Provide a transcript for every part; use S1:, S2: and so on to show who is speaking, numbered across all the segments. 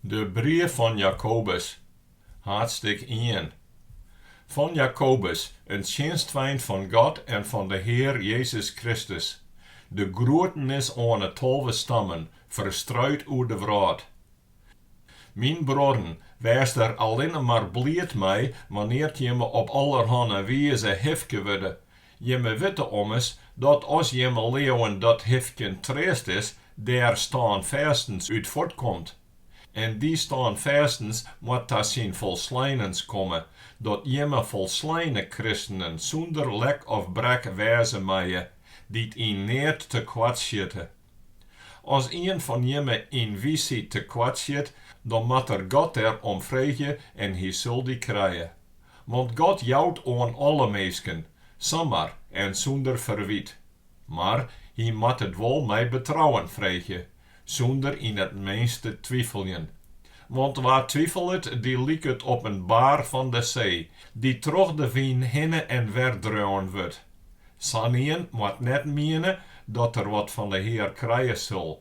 S1: De brief fan Jakobus, haadsttik ien. Fan Jakobus, in tsjinstfeint fan God en fan de Hear Jezus Kristus, de groetenis oan 'e tolve stammen ferstruid oer de wrâld. Myn bruorren, wêst der allinne mar bliid mei wannear't jimme op allerhanne wize hifke wurde Jimme witte ommers dat as jimme leauwen dat hifkjen treast is, dêr stânfêstens út fuortkomt. En dy stânfêstens moat ta syn folsleinens komme, dat jimme folsleine kristenen sûnder lek of brek wêze meie, dy't yn neat te koart sjitte, As ien fan jimme yn wysheid tekoart sjit, dan moat er God der om freegje en hy sil dy krije. Want God jout oan alle minsken, samar en sûnder ferwyt. Mar hy moat it wol mei betrouwen freegje, sûnder yn it minst te twifeljen. Want wa twifelet, dy liket op in baar fan de see, dy't troch de wyn hinne en wer dreaun wurdt. Sa'nien moat net miene dat er wat fan de Hear krije sil,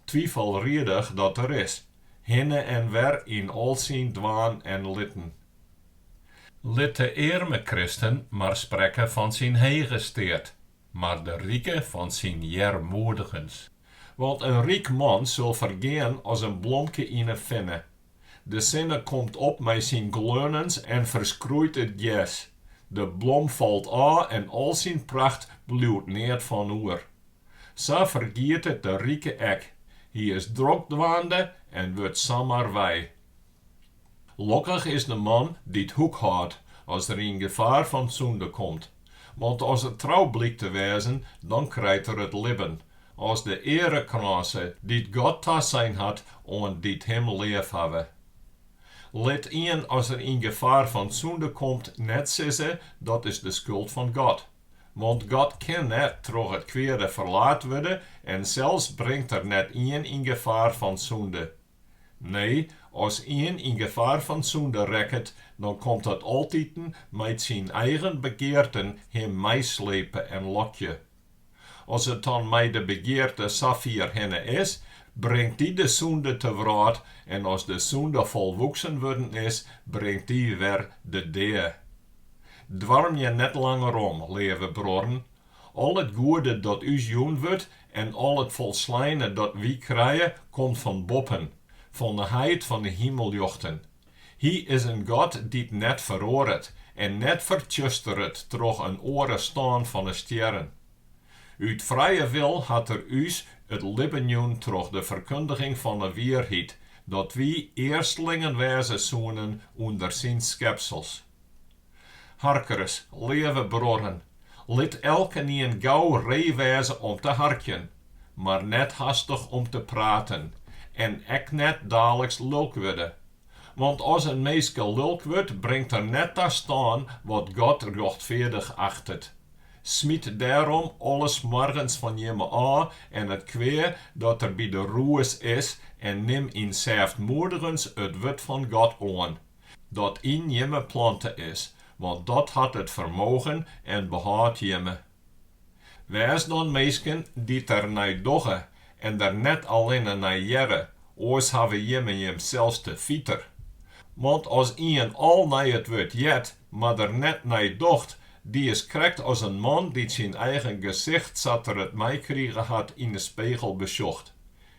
S1: twifelriedich dat er is, hinne en wer yn al syn dwaan en litten. Lit de earme kristen mar sprekke fan syn hege steat, mar de rike fan syn earmoedigens. Want in ryk man sil fergean as in blomke yn 'e finne, De sinne komt op mei syn gleunens en ferskroeit it gers. De blom falt ôf en al syn pracht bliuwt neat fan oer. Sa fergiet it de rike ek. Hy is drok dwaande en wurdt samar wei. Lokkich is de man dy't hoekhâldt as er yn gefaar fan sûnde komt. Want as er trou blykt te wêzen, dan krijt er it libben, as de earekrânse, dy't God tasein hat oan dy't him leafhawwe. Lit ien as er yn gefaar fan sûnde komt net sizze, Dat is de skuld fan God. Want God kin net troch it kweade ferlaat wurde en sels bringt er net ien yn gefaar fan sûnde. Nee, as ien yn gefaar fan sûnde rekket, dan komt dat altiten mei't syn eigen begearten him meislepe en lokje. As it dan mei de begearte safier hinne is, bringt dy de sûnde te wrâld en as de sûnde folwoeksen wurden is, bringt dy wer de dea. Doarmje net langer om, leave bruorren, Al it goede dat ús jûn wurdt en al it folsleine dat wy krije, komt fan boppen, fan 'e heit fan 'e himelljochten. Hy is in God dy't net feroaret en net fertsjusteret troch in oare stân fan 'e stjerren. Ut frije wil hat Er ús it libben jûn troch de ferkundiging fan 'e wierheid, dat wy earstlingen wêze soenen ûnder Syn skepsels. Harkers, leave bruorren, lit elkenien gau ree wêze om te harkjen, mar net hastich om te praten en ek net daliks lulk wurde. Want as in minske lulk wurdt, bringt er net ta stân wat God rjochtfeardich achtet. Smyt dêrom alles smoargens fan jimme ôf en it kwea dat der by de roes is en nim yn sêftmoedigens it wurd fan God oan. dat yn jimme plante is, want dat hat it fermogen en behâld jimme. Wês dan minsken dy't der nei dogge en der net allinne nei hearre, oars hawwe jimme jimsels te fiter. Want as ien al nei it wurd heart, mar der net nei docht, dy is krekt as in man dy't syn eigen gesicht sa't er it meikrige hat yn 'e spegel besjocht.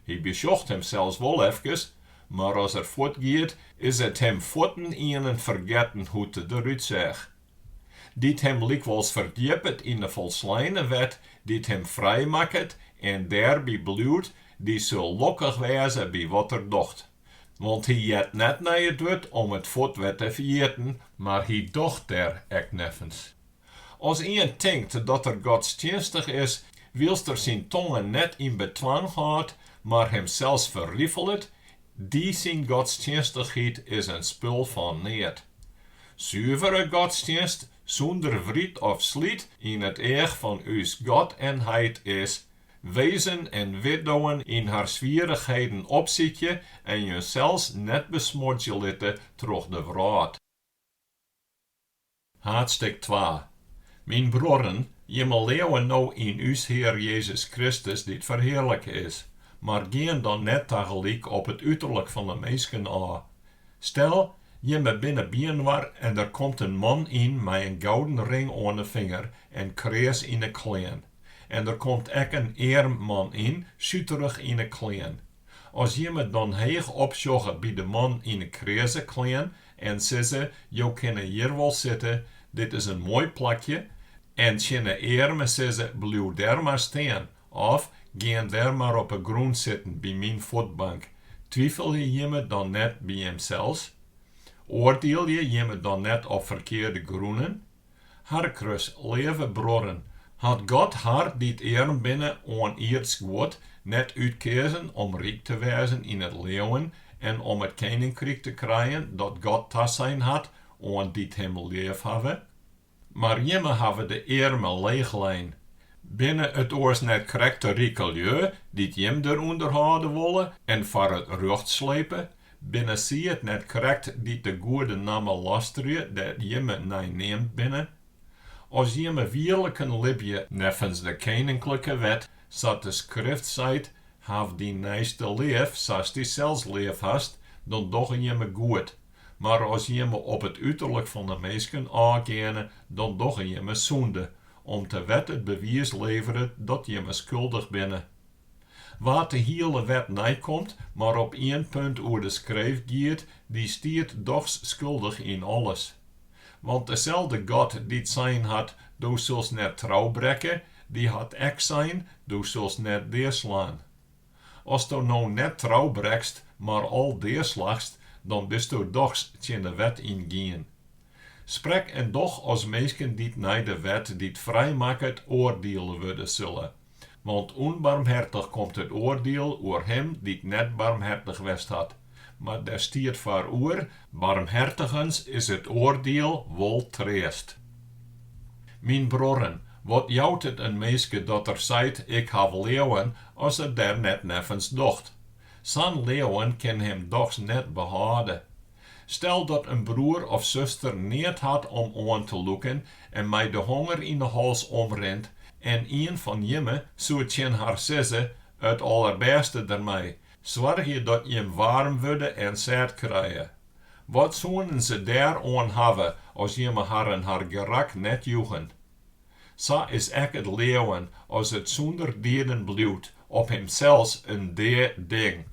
S1: Hy besjocht himsels wol efkes, mar as er fuortgiet, is it him fuortendaliks fergetten hoe't er derút seach. Dy't him lykwols ferdjippet yn 'e folsleine wet dy't him frijmakket en dêrby bliuwt, dy sil lokkich wêze by wat er docht. Want hy heart net nei it wurd om it fuort wer te ferjitten, mar hy docht dêr ek neffens As ien tinkt dat er godstsjinstich is, wylst er syn tonge net yn bedwang hâldt, mar himsels ferrifelet, dy syn godstsjinstichheid is in spul fan neat. Suvere godstsjinst, sûnder wryt of slyt, yn it each fan ús God en heit is, wezen en widdowen yn har swierichheden opsykje en jinsels net besmuordzje litte troch de wrâld. Haadstik twa. Myn bruorren, jimme leauwe no yn ús Hear Jezus Kristus dy't ferhearlike is, mar gean dan net tagelyk op it uterlik fan de minsken ôf. Stel, jimme binne byinoar en der komt in man yn mei in gouden ring oan de finger en kreas yn 'e klean, en der komt ek in earm man yn, suterich yn 'e klean. As jimme dan heech opsjogge by de man yn 'e kreaze klean En sizze, Jo kinne hjir wol sitte, dit is in moai plakje, en tsjin 'e earme sizze, Bliuw dêr mar stean, of, Gean dêr mar op 'e grûn sitten by myn fuotbank. Twifelje jimme dan net by jimsels? Oardielje jimme dan net op ferkearde grûnen? Hark ris, Leave bruorren, hat God har dy't earm binne oan ierdsk guod net útkeazen om ryk te wêzen yn it leauwen en om it keninkryk te krijen dat God tasein hat oan dy't him leafhawwe? Mar jimme hawwe de earmen leechlein. Binne it oars net krekt de rike lju dy't jim derûnder hâlde wolle en foar it rjocht slepe? Binne sy it net krekt dy't de goede namme lastrje dêr't jimme nei neamd binne? As jimme wierliken libje neffens de keninklike wet, sa't de Skrift seit, Haw dyn neiste leaf, sa'st dysels leaf hast, dan dogge jimme goed. Mar as jimme op it uterlik fan 'e minsken ôfgeane, dan dogge jimme sûnde, om't de wet it bewiis leveret dat jimme skuldich binne. Wa't de hiele wet neikomt, mar op ien punt oer de skreef giet, dy stiet dochs skuldich yn alles. Want deselde God dy't sein hat, Do silst net trou brekke, dy hat ek sein, Do silst net deaslaan. Asto no net trou brekst, mar al deaslachst, dan bisto dochs tsjin de wet yngien. Sprek en doch as minsken dy't nei de wet dy't frijmakket oardiele wurde sille. Want ûnbarmhertich komt it oardiel oer him dy't net barmhertich west hat, mar dêr stiet foaroer, Barmhertigens is it oardiel wol treast. Myn bruorren, wat jout it in minske dat er seit, Ik haw leauwen, as er der net neffens docht? Sa'n leauwen kin him dochs net behâlde. Stel dat in broer of suster neat hat om oan te lûken en mei de honger yn 'e hals omrint en ien fan jimme soe tsjin har sizze, It allerbêste dermei, soargje dat jim waarm wurde en sêd krije. Wat soenen se dêr oan hawwe as jimme harren har gerak net joegen? Sa is ek it leauwen, as it sûnder dieden bliuwt, op himsels in dea ding.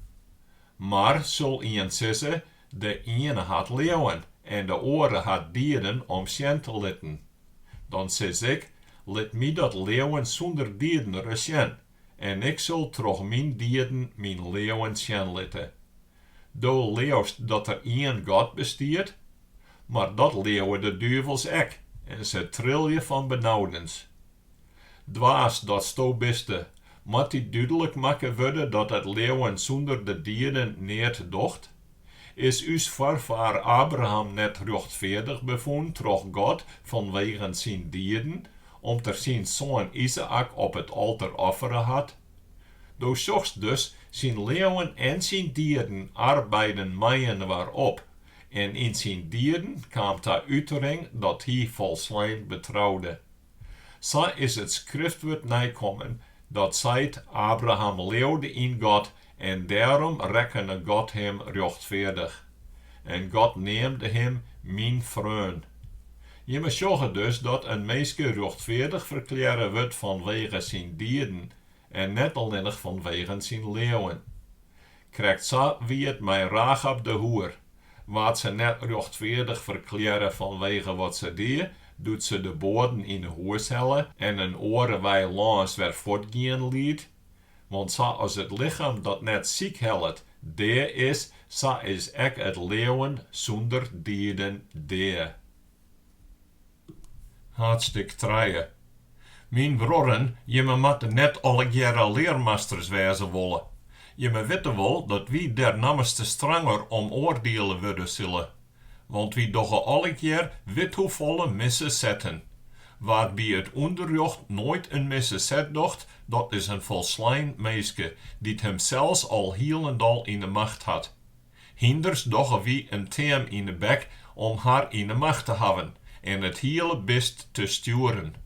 S1: Mar sil ien sizze, De iene hat leauwen en de oare hat dieden om sjen te litten. Dan sis ik, Lit my dat leauwen sûnder dieden ris sjen, en ik sil troch myn dieden myn leauwen sjen litte. Do leaust dat der ien God bestiet, mar dat leauwe de duvels ek en se trilje fan benaudens. Dwaas datsto biste, moat dy dúdlik makke wurde dat it leauwen sûnder de dieden neat docht? Is ús foarfaar Abraham net rjochtfeardich befûn troch God fanwegen syn dieden, om't er syn soan Izaäk op it alter offere hat? Do sjochst dus, syn leauwen en syn dieden arbeiden mei-inoar op, en yn syn dieden kaam ta útering dat hy folslein betroude. Sa is it skriftwurd neikommen, dat seit, Abraham leaude yn God en dêrom rekkene God him rjochtfeardich. En God neamde him Myn freon. Jimme sjogge dus dat in minske rjochtfeardich ferklearre wurdt fanwege syn dieden en net allinnich fanwegen syn leauwen. Krekt sa wie it mei Rachab de hoer. Waard se net rjochtfeardich ferklearre fanwege wat se die, doe't se de boaden yn 'e hûs helle en in oare wei lâns wer fuortgean liet? Want sa as it lichem dat net sykhellet, dea is, sa is ek it leauwen sûnder dieden dea. Haadtstik trije. Myn bruorren, jimme moatte net allegearre learmasters wêze wolle. Jimme witte wol dat wy dêr nammerste stranger om oardiele wurde sille. Want wy dogge allegear withoefolle misse setten. Wa't by it ûnderrjocht noait in misse set docht, dat is in folslein minske, dy't himsels al hielendal yn 'e macht hat. Hynders dogge wy in team yn 'e bek om har yn 'e macht te hawwen en it hiele bist te stjoeren.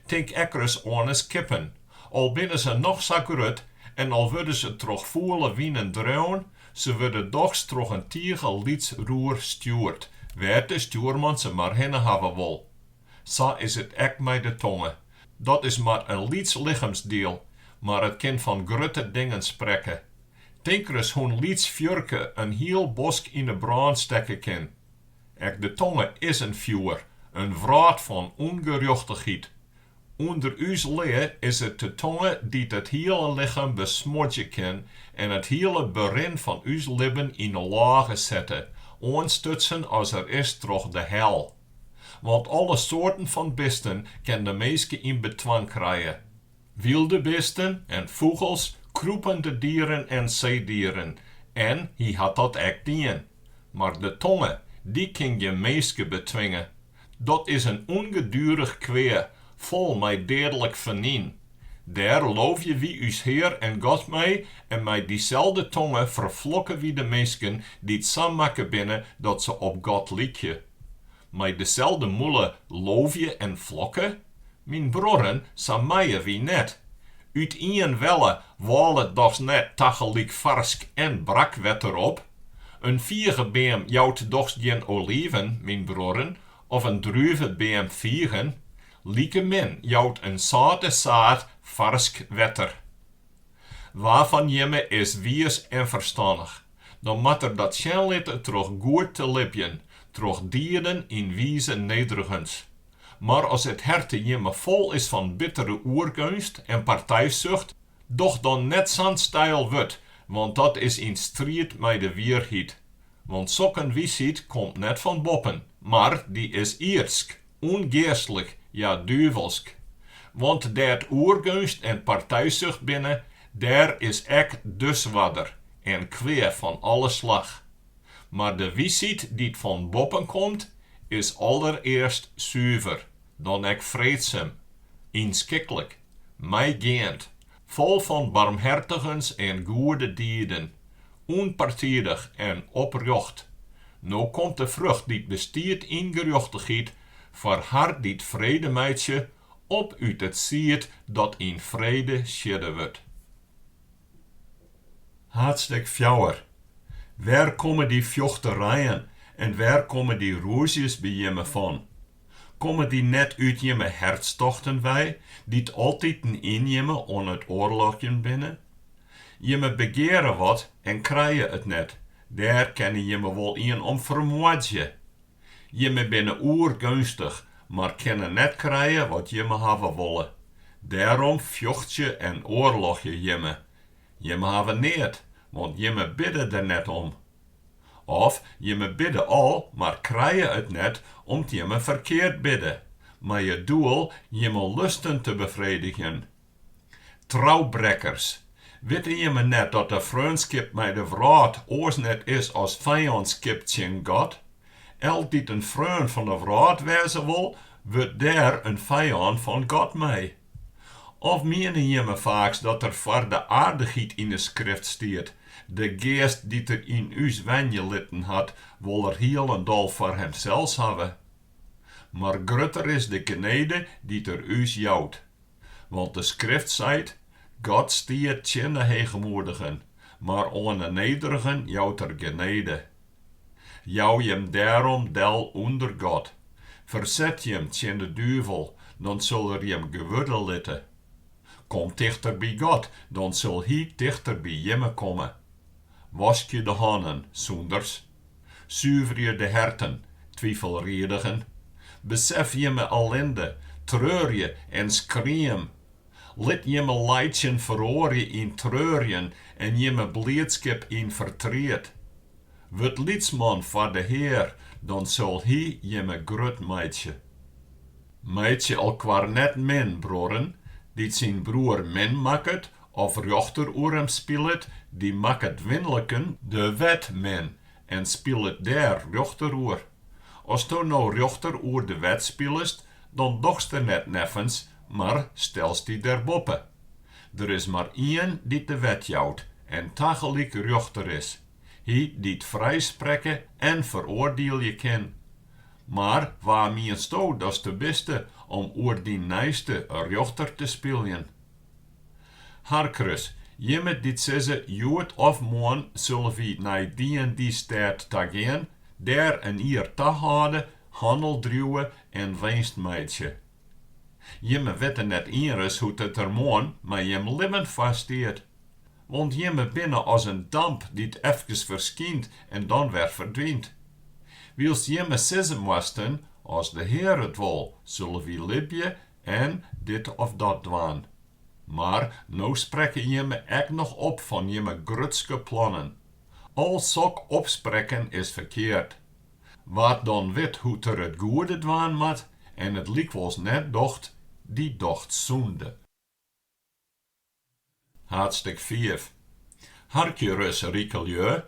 S1: Tink ek ris oan 'e skippen. Al binne se noch sa grut en al wurde se troch fûle winen dreaun, se wurde dochs troch in tige lyts roer stjoerd, wêr't de stjoerman se mar hinne hawwe wol. Sa is it ek mei de tonge. Dat is mar in lyts lichemsdiel, mar it kin fan grutte dingen sprekke. Tink ris hoe'n lyts fjurke in hiel bosk yn 'e brân stekke kin. Ek de tonge is in fjoer, in wrâld fan ûngerjochtichheid. Under ús lea is it de tonge dy't it hiele lichem besmodzje kin en it hiele berin fan ús libben yn 'e lôge sette, oanstutsen as er is troch de hel. Want alle soarten fan bisten kin de minske yn bedwang krije. Wylde bisten en fûgels, krûpende dieren en seedieren, en hy hat dat ek dien. Mar de tonge, dy kin gjin minske betwinge. Dat is in ûngedurich kwea, fol mei deadlik fernyn. Dêr loofje wy ús Hear en God mei, en mei dyselde tonge ferflokke wy de minsken dy't sa makke binne dat se op God lykje. Mei deselde mûle loofje en flokke? Myn bruorren, sa meie wy net. Ut ien welle wâlet dochs net tagelyk farsk en brakwetter op? In figebeam jout dochs gjin oliven, myn bruorren, of in druvebeam figen, like min jout in sâlte saad farsk wetter. Wa fan jimme is wiis en ferstannich, dan moat er dat sjen litte troch goed te libjen, troch dieden yn wize nederigens. Mar as it herte jimme fol is fan bittere oergeunst en partijsucht, doch dan net sa'n steil wurd, want dat is yn striid mei de wierheid. Want sok in wiisheid komt net fan boppen, mar dy is ierdsk, ûngeastlik, ja duvelsk. Want dêr't oergeunst en partijsucht binne, dêr is ek disoarder en kwea fan alle slach. Mar de wiisheid dy't fan boppen komt, is allerearst suver, dan ek freedsum, ynskiklik, meigeand, Fol fan barmhertigens en goede dieden, ûnpartidich en oprjocht. No komt de frucht dy't bestiet yn gerjochtichheid foar har dy't frede meitsje, op út it sied dat yn frede siedde wurdt. Haadstik fjouwer. Wêr komme dy fjochterijen en wêr komme dy rûzjes by jimme fan? Komme dy net út jimme hertstochten wei, dy't altyd yn jimme oan it oarlogjen binne? Jimme begeare wat en krije it net, dêr kinne jimme wol ien om fermoardzje. Jimme binne oergeunstich, mar kinne net krije wat jimme hawwe wolle. Dêrom fjochtsje en oarlogje jimme. Jimme hawwe neat, want jimme bidde der net om. Of jimme bidde al, mar krije it net om't jimme ferkeard bidde, mei it doel jimme lusten te befredigjen. Troubrekkers, witte jimme net dat de freonskip mei de wrâld oars net is as fijânskip tsjin God? Elk dy't in freon fan de wrâld wêze wol, wurdt dêr in fijân fan God mei. Of miene jimme faaks dat der foar de aardichheid yn de Skrift stiet, De Geast dy't er yn ús wenje litten hat, wol er hielendal foar himsels hawwe? Mar grutter is de genede dy't er ús jout. Want de Skrift seit, God stiet tsjin de heechmoedigen, mar oan 'e nederigen jout er genede. Jou jim dêrom del ûnder God, ferset jim tsjin de duvel, dan sil er jim gewurde litte. Kom tichter by God, dan sil Hy tichter by jimme komme. Waskje de hannen, sûnders. Suverje de herten, twifelriedigen. Besef jimme ellinde, treurje en skream. Lit jimme laitsjen feroarje yn treurjen en jimme bliidskip yn fertriet. Wurd lytsman foar de Hear, dan sil Hy jimme grut meitsje. Meitsje elkoar net min, bruorren, dy't syn broer min makket of rjochter oer him spilet, dy makket winliken de wet min en spilet dêr rjochter oer. As do no rjochter oer de wet spilest, Dan dochst der net neffens, mar stelst dy derboppe. Der is mar ien dy't de wet jout en tagelyk rjochter is, hy dy't frijsprekke en feroardielje kin. Mar wa miensto datste biste om oer dyn neiste rjochter te spyljen? Hark ris, jimme dy't sizze, Hjoed of moarn sille wy nei dy en dy stêd ta gean, dêr in jier tahâlde, Hannel driuwe en winst meitsje. Jimme witte net ienris hoe't it der moarn mei jim libben foar stiet. Want jimme binne as in damp dy't efkes ferskynt en dan wer ferdwynt. Wylst jimme sizze moasten, As de Hear it wol, sille wy libje en dit of dat dwaan. Mar no sprekke jimme ek noch op fan jimme grutske plannen. Al sok opsprekken is ferkeard. Wa't dan wit hoe't er it goede dwaan moat en it lykwols net docht, dy docht sûnde. Haadstik fiif. Harkje ris, rike lju,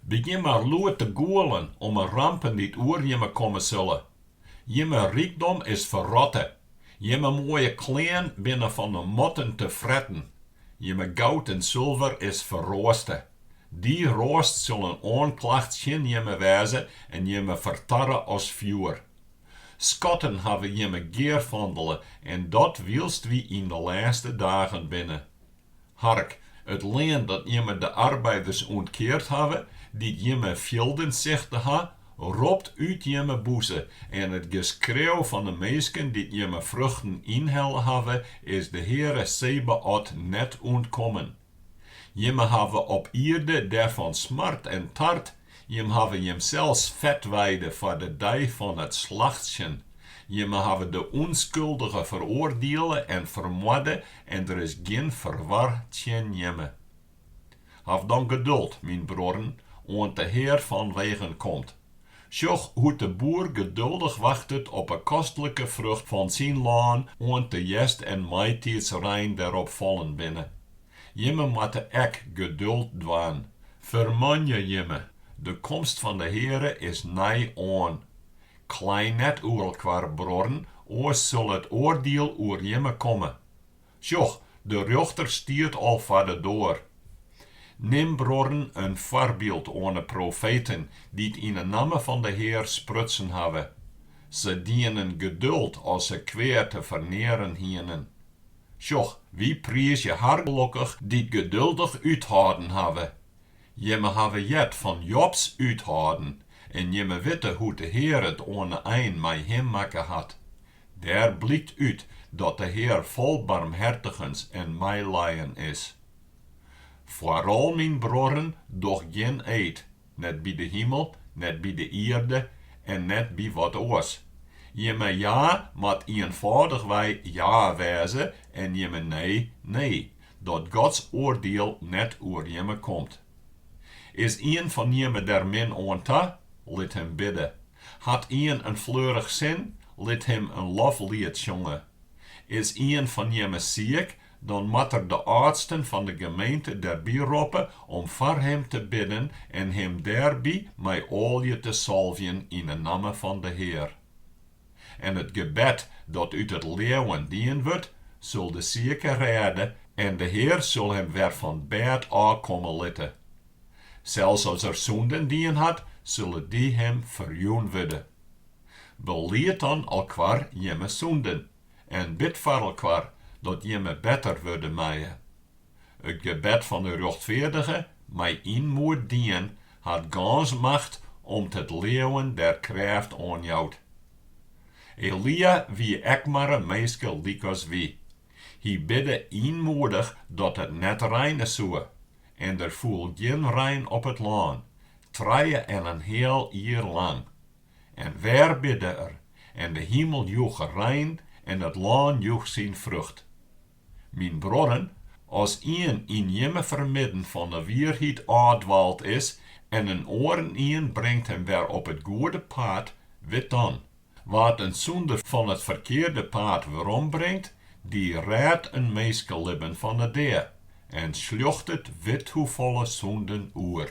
S1: begjin mar lûd te gûlen om 'e rampen dy't oer jimme komme sille. Jimme rykdom is ferrotte, Jimme moaie klean binne fan 'e motten tefretten, jimme goud en sulver is ferroaste. Dy roast sil in oanklacht tsjin jimme wêze en jimme fertarre as fjoer. Skatten hawwe jimme gearfandele en dat wylst wy yn 'e lêste dagen binne. Hark, it lean dat jimme de arbeiders ûntkeard hawwe, dy't jimme fjilden sichte ha, ropt út jimme bûze, en it geskreau fan 'e minsken dy't jimme fruchten ynhelle hawwe, is de Heare Sebaot net ûntkommen. Jimme hawwe op ierde derfan smard en tard, Jimme hawwe jimsels fet weide foar de dei fan it slachtsjen. Jimme hawwe de ûnskuldige feroardiele en fermoarde en der is gjin ferwar tsjin jimme. Haw dan geduld, myn bruorren, oant de Hear fan wegen komt. Sjoch hoe't de boer geduldich wachtet op 'e kostlike frucht fan syn lân oant de hjerst en maitiidsrein derop fallen binne. Jimme moatte ek geduld dwaan, fermanje jimme, de komst fan de Heare is nij oan. Klei net oer elkoar, bruorren, oars sil it oardiel oer jimme komme. Sjoch, de rjochter stiet al foar de doar. Nim, bruorren, in foarbyld oan 'e profeten dy't yn 'e namme fan de Hear sprutsen hawwe. Se dienen geduld as se kwea te fernearen hienen. Sjoch, wy priizje har gelokkich dy't geduldich úthâlden hawwe. Jimme hawwe heard fan Jobs úthâlden en jimme witte hoe't de Hear it oan 'e ein mei him makke hat. Dêr blykt út dat de Hear fol barmhertigens en meilijen is. Foaral myn bruorren, doch gjin eed, net by de himel, net by de ierde en net by wat oars. Jimme ja moat ienfâldichwei ja wêze en jimme nee, nee, dat Gods oardiel net oer jimme komt. Is ien fan jimme der min oan ta? Lit him bidde. Hat ien in fleurich sin? Lit him in loflied sjonge. Is ien fan jimme siik? Dan moat er de âldsten fan de gemeente derby roppe om foar him te bidden en him dêrby mei oalje te salvjen yn 'e namme fan de Hear. En it gebed dat út it leauwen dien wurdt, sil de sieke rêde en de Hear sil him wer fan bêd ôf komme litte. Sels as er sûnden dien hat, sille dy him ferjûn wurde. Belied dan elkoar jimme sûnden. en bid foar elkoar dat jimme better wurde meie. It gebed fan de rjochtfeardige mei ynmoed dien hat gâns macht om't it leauwen der krêft oan jout. Elia wie ek mar in minske lykas wy. Hy bidde ynmoedich dat it net reine soe, en der foel gjin rein op it lân, trije en in heal jier lang. En wer bidde er, en de himel joech rein en it lân joech syn frucht. Myn bruorren, as ien yn jimme fermidden fan 'e wierheid ôfdwaald is en in oarenien bringt him wer op it goede paad, wit dan, wa't in sûnder fan it ferkearde paad werombringt, dy rêdt in minskelibben fan 'e dea en sljochtet withoefolle sûnden oer.